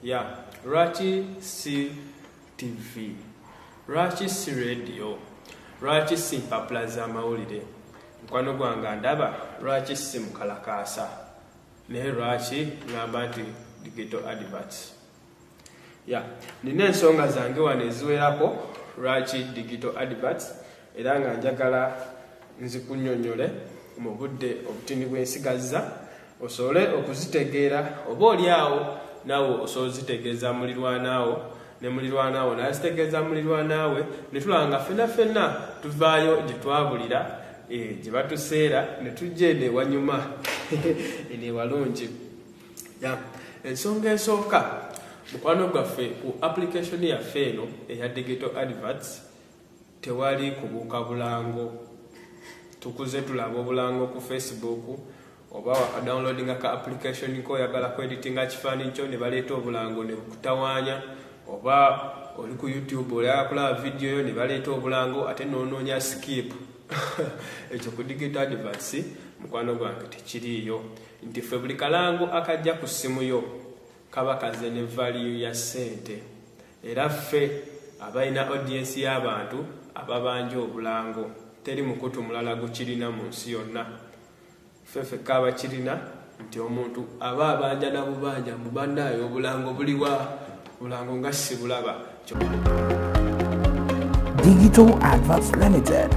ya lwaki si tv lwaki si radio lwaki si mpapula z'amawulire mukwano gwange ndaba lwaki si mukalakaasa naye lwaki ngamba nti digital adverts ya nina ensonga zange wano eziwerako lwaki digital adverts era nga njagala nzikunyonyole mu budde obutini bwensigazza osobole okuzitegeera oba oli awo naawe osobola ozitegeeza mulirwanaawo ne mulirwanaawo nazitegeeza mulirwanaawe netulaba nga fena fena tuvaayo gye twabulira eh, gye batuseera ne tujja eno ewanyuma eno ewalungi ya ensonga esooka mukwano gwaffe ku application yaffe eno eya digital adverts tewali kubuuka bulango tukuze tulaba obulango ku facebook oba wakadownloadinga ka application ko oyagala ku editinga kifaananyi kyo ne baleeta obulango ne bukutawaanya oba oli ku youtube olaba kulaba vidiyo yo ne baleeta obulango ate noonoonya skip ekyo ku digit advance mukwano gwange tekiriiyo nti ffe buli kalango akajja ku ssimu yo kaba kaze ne valiyu ya ssente Era ffe abalina audience y'abantu ababanja obulango teri mukutu mulala gukirina mu nsi yonna. Ffe fekka abakirina nti omuntu aba abanja na bubanja mbu bannaaye obulango buliwa? Obulango nga sibulaba. Digital Adverts Limited.